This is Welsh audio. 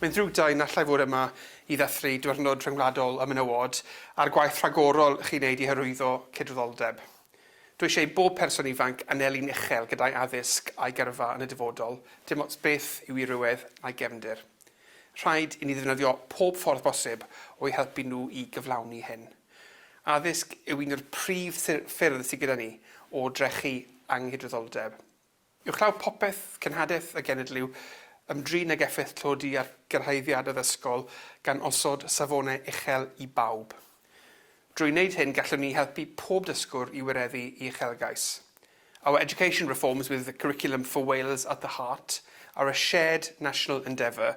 Mae'n ddrwg da i nallai fod yma i ddathlu Diwrnod Rhyngwladol y Menywod a'r gwaith rhagorol chi'n wneud i hyrwyddo cydraddoldeb. Dw eisiau i bob person ifanc anelu'n uchel gyda'i addysg a'i gyrfa yn y dyfodol, dim ots beth yw ei rywedd na'i gefndir. Rhaid i ni ddefnyddio pob ffordd bosib o'u helpu nhw i gyflawni hyn. Addysg yw un o'r prif ffyrdd sydd gyda ni o drechu anghydraddoldeb. Uwchlaw popeth, cenhadaeth a genedliw, ymdrin ag effaith tlodi ar gyrhaeddiad addysgol gan osod safonau uchel i bawb. Drwy wneud hyn gallwn ni helpu pob dysgwr i wireddu ei uchelgais. Our education reforms with the Curriculum for Wales at the heart are a shared national endeavour,